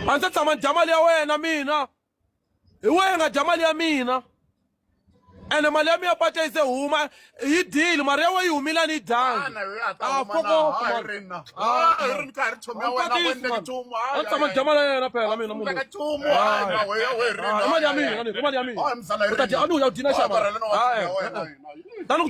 a ndzi ta tshama ni dya mali ya wena mina hi wena nga dya mali ya mina ene mali ya mina pata yi se huma yi dile mali ya wena yi humile a ni yi dyangi a fokoa ndzi tshama ni dya mali ya yena phela mina munhu mali ya mina ni mali ya mina u ta dya a ni u ya dina xava tani ku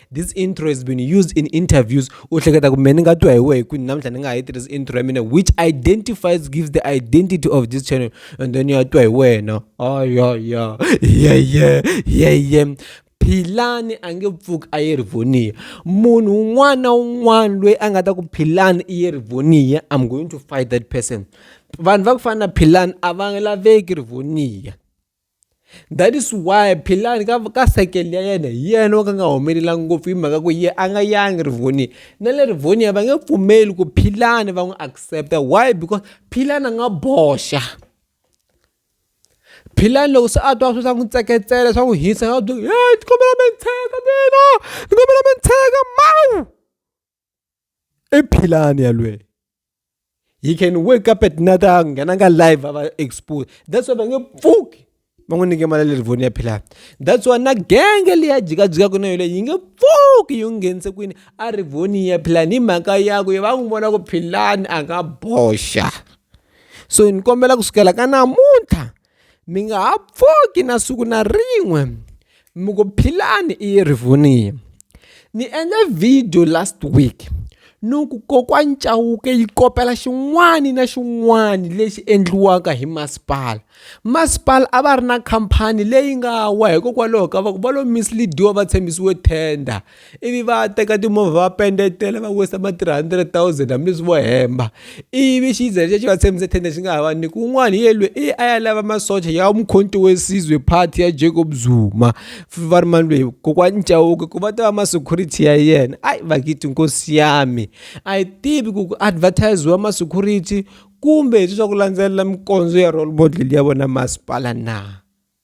this intro has been used in interviews u hleketa ku me ni nga twa hi wehe kwini namuntlha ni nga ha yi tirhisa intro ya mina which identifies gives the identity of this channel and then ya twa hi wena ayaya yeye yeye philani a nge pfuki a yi ri voniya munhu un'wana na un'wana loyi a nga ta ku philani i yi ri voniya i'm going to fight that person vanhu va ku fana na philani a va laveki ri voniya that is why philani ka ka sekele ya yena hi yena wo ka nga humelela ngopfu hi mhaka ku ye a nga yangi rivonia na le rivonia va nge pfumeli ku philani va n'wi accepta why because philani a nga boxa philani loko se a twa swi swa n'wi tseketsela swa n'wi hisa nga byi he ni kombela mi ni tshega mina ni kombela mi ni tshega mawu i philani yalweyo he can wake up at night a nghena ka live a va expose that's why va nge pfuki va n'wi nyike mali lerivoni ya philani that's why na genge leyi a jikajikaka na yoleyo yi nge pfuki yi n'wi nghenise kwini a rivoni ya philani hi mhaka yaku ye va n'wi vona ku philani a nga boxa so ni kombela ku sukela ka namuntlha Mi nga ha pfuki na siku na rin'we mi ku Philani i ye rivoniya. Ni endle video last week ni ku kokwani Chauke yi kopela xin'wani na xin'wani lexi endliwaka hi masipala. Masipala a va ri na khampani leyi nga wa hikokwalaho ka va ku va lo mislead-iwa va tshembisiwe tender. ivi va teka timovha va pendetela va wisa ma 300,000 hambileswi vo hemba ivi xiza lexi va tshembise tende xi nga ha va ni kun'wana hi yelwe i a ya lava masocha ya mukhonti wesizwe party ya Jacob Zuma va ri mani lweyi kokwani Nchauke ku va ta va ma security ya yena ai vakiti nkosi yami a yi tivi ku ku advertisiwa ma security kumbe hi swa ku landzelela mikondzo ya role model ya vona masipala na